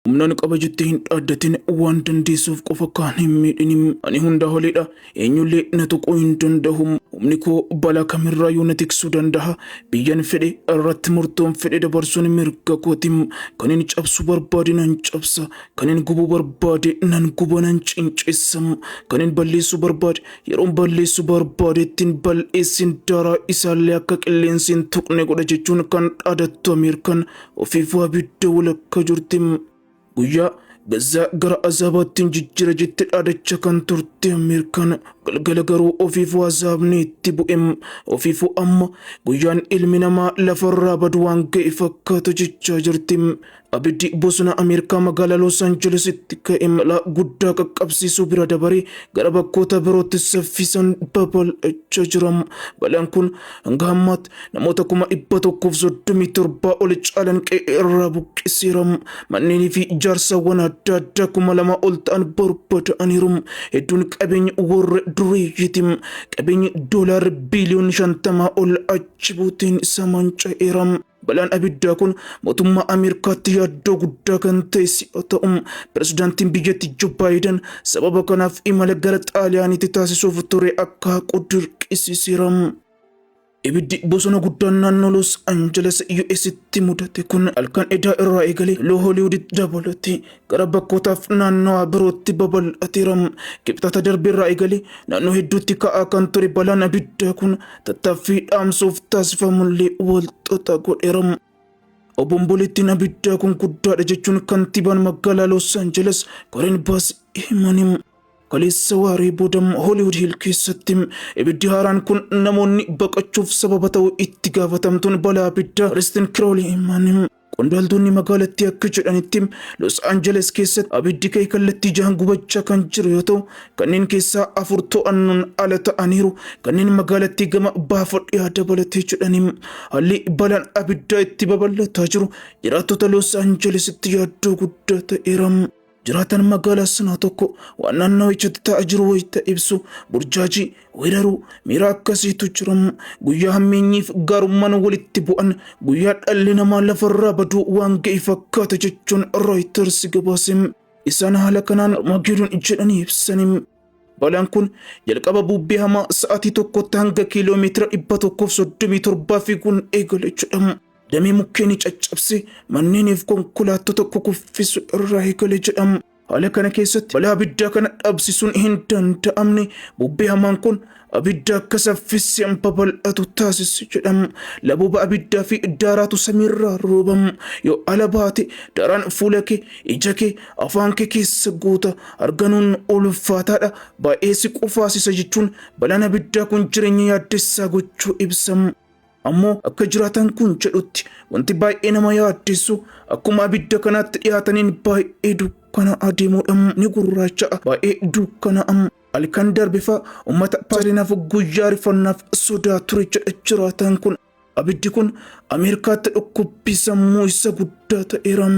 Humnaan qaba jettee hin dhaaddatin waan dandeessuuf qofa kaan hin miidhini. Ani hundaa oliidha. Eenyullee na tuquu hin danda'u. Humni koo balaa kamirraa yoo na tiksuu danda'a. Biyyan fedhe irratti murtoon fedhe dabarsuun mirga kooti. Kan hin cabsuu barbaade nan cabsa. Kan hin gubuu barbaade nan guba nan cincessa. Kan hin balleessuu barbaade yeroon balleessuu barbaadeettiin bal'eessin daaraa isaallee akka qilleensi hin tuqne godha jechuun kan dhaadattu Ameerikaan Ofiifuu abidda walakka jirti. Guyyaa gazzaa gara azaabaatti hin jijjira jette dhaadacha kan turte Ameerikaan galgala garuu ofiifuu azaabni itti bu'e. Ofiifuu amma guyyaan ilmi namaa lafarraa badu waan ga'e fakkaata jechaa jirti. Abiddi bosona Ameerikaa magaalaa Los Angelesitti ka'e balaa guddaa qaqqabsiisuu bira dabaree gara bakkoota birootti saffisan babal'achaa jira. Balaan kun hanga ammaatti namoota kuma dhibba tokkoof soddomii torbaa ol caalan qe'ee irraa buqqiseera. Manneenii fi ijaarsawwan adda addaa kuma lama ol ta'an barbada'aniiru. Hedduun qabeenya warra dureeyyiiti. Qabeenyi doolaarri biiliyoonni shantamaa ol achi buuteen isa manca'eera. Balaan abiddaa kun mootummaa Ameerikaatti yaaddoo guddaa kan ta'e si'a ta'u, pirezidaantiin biyyatti Joo Baayidan sababa kanaaf imala gara Xaaliyaaniitti taasisuuf ture akka haqu dirqisiiseera. Ibiddi bosona guddaan naannoo Los Angeles US'tti mudate kun halkan edaa irraa eegalee Loo Hooliwuditti dabalatee gara bakkootaaf naannawaa birootti babal'ateera. Kibxata darbe irraa eegalee naannoo hedduutti ka'aa kan ture balaan abiddaa kun tattaaffii dhaamsuuf taasifamullee walxaxaa godheera. Obomboleettiin abiddaa kun guddaadha jechuun kantiibaan magaalaa Los Angeles Karen Bass himaniiru. Kaleessa waaree booda Hooliwud Hiil keessatti ibiddi haaraan kun namoonni baqachuuf sababa ta'u itti gaafatamtuun balaa abiddaa Kiristin Kirooli himan. Qondaaltonni magaalattii akka jedhanitti Los Angeles keessatti abiddi ka'e kallattii jahan gubachaa kan jiru yoo ta'u kanneen keessaa afur to'annoon ala ta'aniiru kanneen magaalattii gama baafa dhiyaa dabalatee jedhani. Haalli balaan abiddaa itti babal'ataa jiru jiraattota Los Angelesitti yaaddoo guddaa ta'eera. Jiraataan magaalaa sanaa tokko waan naannawichatti ta'aa jiru wayita ibsu burjaajii, weeraruu, miira akkasiitu jira. Guyyaa hammeenyiif gaarummaan walitti bu'an guyyaa dhalli namaa lafarraa baduu waan ga'e fakkaata jechuun Rooyiters gabaase. Isaan haala kanaan Armaageedoon jedhanii ibsani. Balaan kun jalqaba bubbee hamaa sa'aatii tokkotti hanga kiiloo meetira 137 fiiguun eegale jedhama. Damee mukkeenii caccabse manneeniif konkolaattota kukuffisu irraa eegale jedhama. Haala kana keessatti balaa abiddaa kana dhabsisuun hin danda'amne bubbee hamaan kun abidda akka saffiseen babal'atu taasise jedhama. Labooba abiddaa fi daaraatu samiirraa roobama. Yoo ala baate daaraan fuula kee, ija kee, afaan kee keessa guuta. Arganuun ulfaataadha. Baay'ee si qufaasisa jechuun balaan abiddaa kun jireenya yaaddessaa gochuu ibsama. Ammoo akka jiraataan kun jedhutti wanti baay'ee nama yaaddessu akkuma abidda kanaatti dhiyaataniin baay'ee dukkana adeemuudhaan ni gurraacha'a baay'ee dukkana'am halkan darbifa uummata paalinaaf guyyaa rifannaaf sodaa ture jedha jiraataan kun abiddi kun ameerikaatti dhukkubbii sammuu isa guddaa ta'eeram.